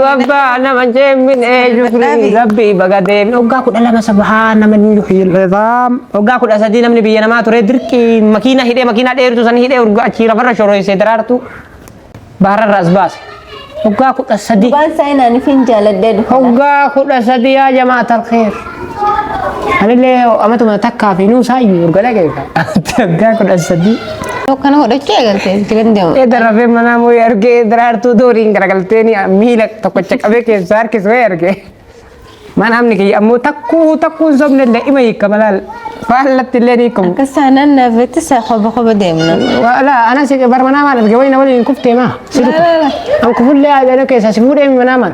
Abbaa nama jeemmin eeyyuu Dadhabi. rabbii baga deebi. Waggaa kudha lama sabaa nama ni yuhiil izaam. Waggaa kudha sadii namni biyya namaa ture dirqii makiina hidhee makiina dheertu san hidhee urga achii lafarra shoroyse daraartu bahararra as baase. Waggaa kudha sadii. Waan saayinaaniif hin jaaladheedha. Waggaa kudha sadii yaa jamaa talkeef. Anillee amatuma takkaa fi nuusaa iyyuu urga dhageeka. Waggaa kudha sadii. Kana godhachuu eegaltee itti kan deemu. Eeda rafee manaa mooyi argee daraartuu dooriin garagaltee ni miila tokkocha qabee keessaa harkis wayii argee. Mana amni kiyya ammoo takkuu takkuu hin sobne illee ima hiika malaal faallatti illee ni hiikamu. Akka saanaan naafetti isaa koba koba deemna. Wala ana si bar manaa maal arge wayii na waliin kuftee maa. An kufullee aadana keessaa si fuudhee manaa maal.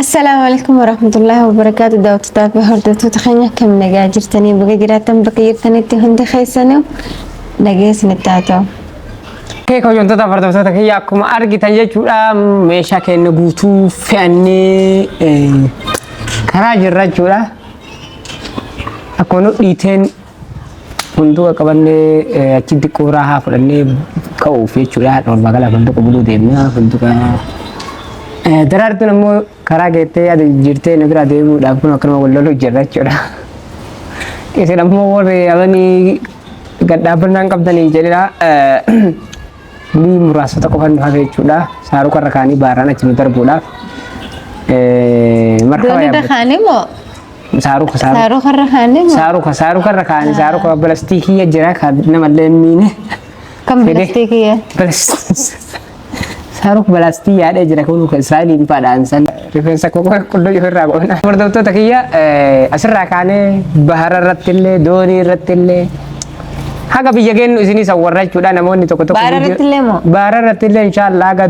Assalaamu alaikum warahmatullahi wabarakaatu daawwattotaa fi hordoftoota keenya akkam nagaa jirtanii baga jiraattan bakka jirtanitti hundi keessanuu nagaa isinitti haa ta'u. Kee hojjettoota hordoftoota kiyya akkuma argitan jechuudha meeshaa keenya guutuu fe'annee eh, karaa jirra jechuudha. Akkuma nu dhiiteen Funduqa qabannee achi xiqqoo raahaa fudhannee ka'uuf jechuudha. Dhorba kana funduqa buluu deemna. Funduqa daraartuun ammoo karaa geettee yaada jijjiirtee nu biraa deemuudhaaf kun akkanuma wal loluu jirra jechuudha. Isin ammoo warri amanii gadhaabbannaan qabdanii jedhedha. Bulii muraasota qofa nu hafe jechuudha. Saaruqa irra kaanii baaraan achi nu darbuudhaaf. Markaba Doonii irra yaabbatee. kaanii moo Saaruqa saaruqa. saaruqa irra kaanii moo Saaruqa saaruqa irra kaanii saaruqa pilastiikii jira kan namallee hin miine. kan fedhe. pilastiikii Saaruk balaastii yaadee jira kun saaliin faadhaan san rifeensa koo qulluu ofirraa goona. Hordoftoota kiyya eh, asirraa kaanee bahara irratti illee doonii irratti illee Haga biyya geennu isinis awwarrachuudha namoonni tokko tokko. Baara irratti illee moo? Baara irratti illee inshaallah haga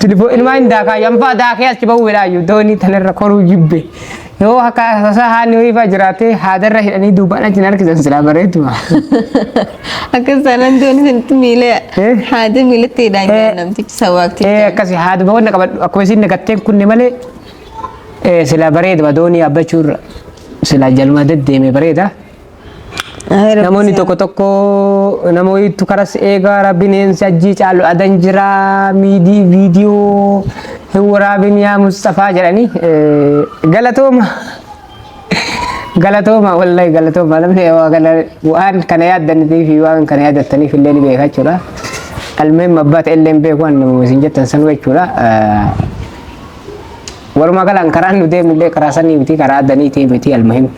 tilifoo ilmaa hin daakaa yanfaa daakee achi bahuu jedhaayyuu doonii tanarra koruu jibbe. Yoo akka tasaa haani ho'iifaa jiraatee haadarra hidhanii duubaan achi hin harkisan silaa bareeduma. Akkas taanaan doon isinitti miila Eh? haada miilatti hidhaan Eh. jedhan namtichi Ee sawaakticha. akkasi haada boqonna qabadhu akkuma isin nagatteen kunne malee ee, silaa bareeduma doonii abbachuurra silaa jaluma deddeeme bareeda. Namoonni tokko tokko nama wayiitu karas eegaa rabbiin eensi ajjii caalu adan jira miidii viidiyoo hin waraabin yaa Mustafaa jedhanii galatooma. Galatooma wallahi galatooma namni waa kana waan kana yaaddanii fi waan kana yaaddataniif illee ni beeka jechuudha. Almeen mabbaata illee hin beeku waan isin jettan sanuu jechuudha. Walumaa galaan karaan nu deemullee karaa sanii miti karaa addanii ta'e miti almuhim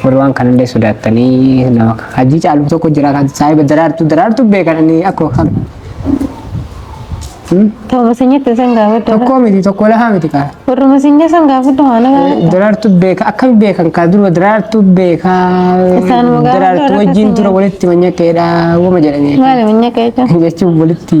warri waan kanallee sodaattanii nama hajii caalu tokko jira kan saahiba daraartuu daraartuu beekan inni akkoo kan Tooba sanyitti san gaafadha. tokkoo miti tokkoo lahaa miti kaa Warruma sanya san gaafadha waan gaafadha. daraartuu beeka akkami beekan kaa durba daraartuu beeka Isaan mugaa daraartuu wajjin daraartuu tura walitti manyakeedha wama jedhanii Maali minya keecha? jechuun walitti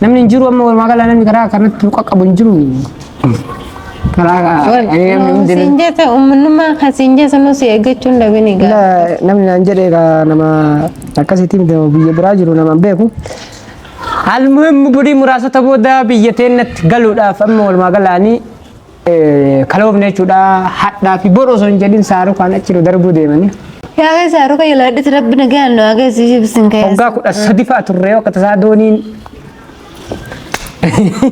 Namni hin jiru amma walumaa gala namni karaa kanatti nu qaqqabu hin jiru. Karaa ani namni hundi Siin jette uummanummaa kan siin jette nu si eeggachuu hin dhabini gaa. Ila- namni naan jedhe egaa nama akkasitti miti nama biyya biraa jiru nama hin beeku. Almuhim burii muraasota booda biyya teennatti galuudhaaf amma walumaa galaanii kaloofne jechuudha hadhaa fi bor osoo hin jedhin saarukaan achi nu darbuu deemanii. Yaa kee saaruka yalaadhiti rabbi nagaan nu agarsiisuu bisin kee. Waggaa kudha sadi fa'a turre yoo akka tasaa dooniin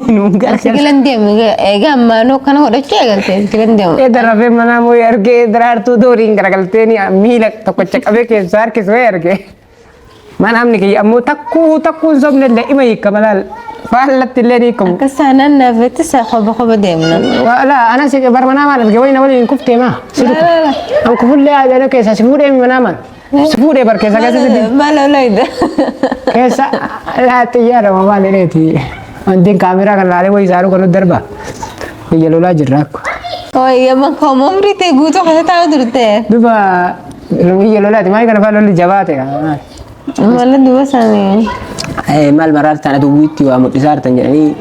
nuun gargaara. Sigilan deemu egaa ammaanoo kana godhachuu eegalte sigilan deemu. Ee darabee manaa mooyee argee daraartuu dooniin garagaltee miila tokkocha qabee keessaa harkisee argee. Maan amni kiyya ammoo takkuu takkuu hin sobne illee ima hiika malaal faallatti illee ni hiikamu. Akka saanaan naafetti saa qoba qoba deemna. Wala ana si barmanaa maal arge wayna waliin hin kuftee maa. Laala. An kufullee aadana keessaa si fuudhee manaa maal. Si fuudhee bar keessaa keessa si deemu. Maal olayda? Keessa laa xiyyaara maa maal jedheeti. Wantiin kaameraa kan laalee wayii saaruu kan nu darba. Biyya lolaa jirra akko. Wayya bakka umrii ta'e guutuu keessa taa'u turte. Duba biyya lolaati maal kana fa'aa lolli jabaa ta'e. Mala duba sanii. Maal maraartaan aduu wiitti waa mul'isaartan jedhanii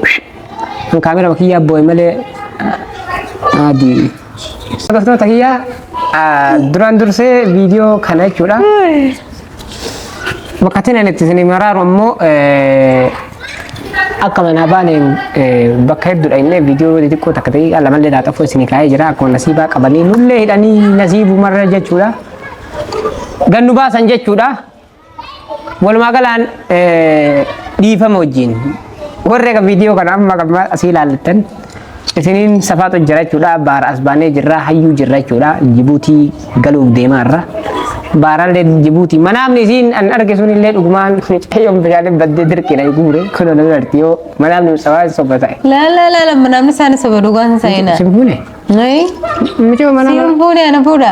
kan kaamera bakiyyaa boo'e malee adii. Hordoftoota kiyyaa duraan dursee viidiyoo kana jechuudha. Bakkatiin ani itti isinii maraaru ammoo akka manaa baaneen bakka hedduudha innee viidiyoo xixiqqoo takka ta'ee lamallee laaxafoo isinii kaa'ee jira akkuma nasiibaa qabanii nullee hidhanii nasiibumarra jechuudha. Gannu baasan jechuudha. Walumaa galaan dhiifama wajjin Warri kan viidiyoo kana amma kan asii ilaaltan isiniin safaatu jira jechuudha. Baara as baanee jirra hayyuu jirra jechuudha. Jibuutii galuuf deemaa irra. Baarallee Jibuutii manaamni isiin an arge sun illee dhugumaan mucayyoon bishaaniin baddee dirqiina guure kun ol irratti yoo manaamni sabaa soba ta'e. La la la la namni isaan soba dhugaan seenaa. Simbuune Nuyi mucayyoon manaa simbuune ana fuudha.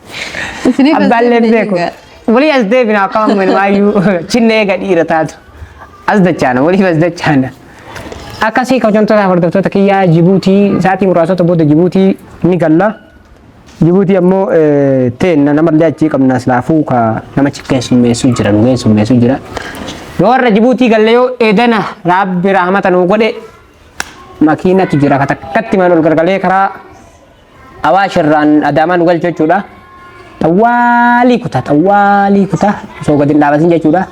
Isiniif as Abbaan deebine lebbee kun. egaa. Walii as deebina akka amma maayyuu chinna eega dhiira taatu. As dachaana waliif as dachaana. Akkasii kabajamtoota hordoftoota kiyyaa Jibuutii sa'aatii muraasota booda Jibuutii ni galla. Jibuutii ammoo eh, teenna namallee achii qabna silaafuu ka namachi keessummeessuu jira nu keessummeessuu jira. Yoo warra Jibuutii galle yoo eedana raabbi raamata nuu godhe makiinatu jira ka takkatti maan ol gargalee karaa Awaash irraan Adaamaa nu galchu jechuudha. Xawwaalii kutaa xawwaalii kutaa osoo gadi hin dhaabatin jechuudha.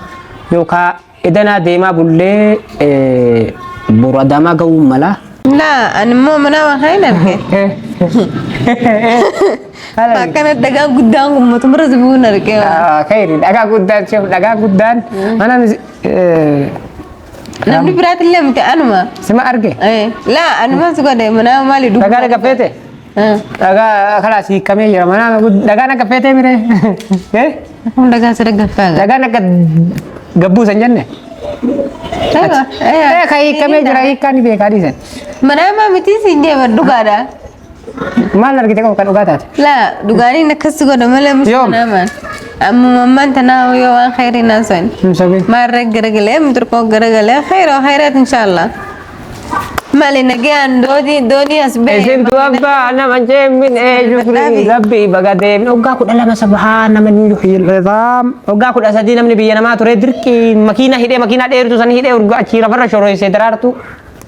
Yookaan edanaa deemaa bullee eh, boru Adaamaa ga'uu mala. Na, ani immoo mana waaqaa hin arge. Akkana dhagaa guddaan kun mootummaa si bu'uun arge. Kayri dhagaa guddaan siif dhagaa guddaan mana mis- eh, Namni biraatillee miti anuma. Sima arge. Eh, Laa anuma si godhe manaa maali dubbii. Dhagaa dhaga feete. Eh, Dhagaa kalaas hiikamee jira. Mana dhagaa dhaga feete mire. Eh? Kun dhagaa si dhaggaffaa gaa. Dhagaa dhaga gabbuu san jenne. Dhagaa. Eh, Eh, kan hiikamee jira hiikaa ni beekaa dhiisan. Manaa maa miti siin deema dhugaadha. Maal argite qabu kan dhugaa taate? La dhugaanii inni akkas godha malee mucaa Yoom? namaan. Amma mammaan tanaa yoo waan khayrii naan so'in. Hin sobiin. Maarree garagalee muturqoo garagalee khayroo khayraat inshaallah. Maali nagaan doodii doonii as ba'e. Isintu abbaa nama jeemin eenyu Dadhabi. rabbii baga deemin waggaa kudha lama sabahaa nama ni yuhiirreefaam waggaa kudha sadii namni biyya namaa ture dirqii makiina hidhee makiina dheertu san hidhee urga achii lafarra shoroyse daraartu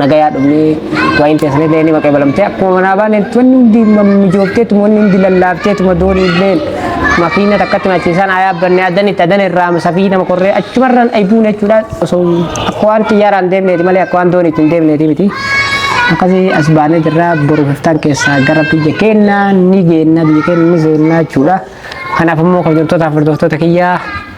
nagayaa dhumnee waa'in teessanii illee ni maqabalamtee akkuma manaa baaneen wanni hundi mijoofteetuma wanni hundi lallaafteetuma doonii illee makiina takkatti machiisaan haa yaabbanne adan itti adan irraa safii nama korree achumarraan aybuun jechuudha osoo akka waan xiyyaaraan deemneeti malee akka waan doonii ittiin deemneeti miti. Akkasii as baanee jirra boru hoftaan keessaa gara biyya keenyaa ni geenna biyya keenya ni seenna jechuudha. Kanaaf immoo kabajamtoota hordoftoota kiyyaa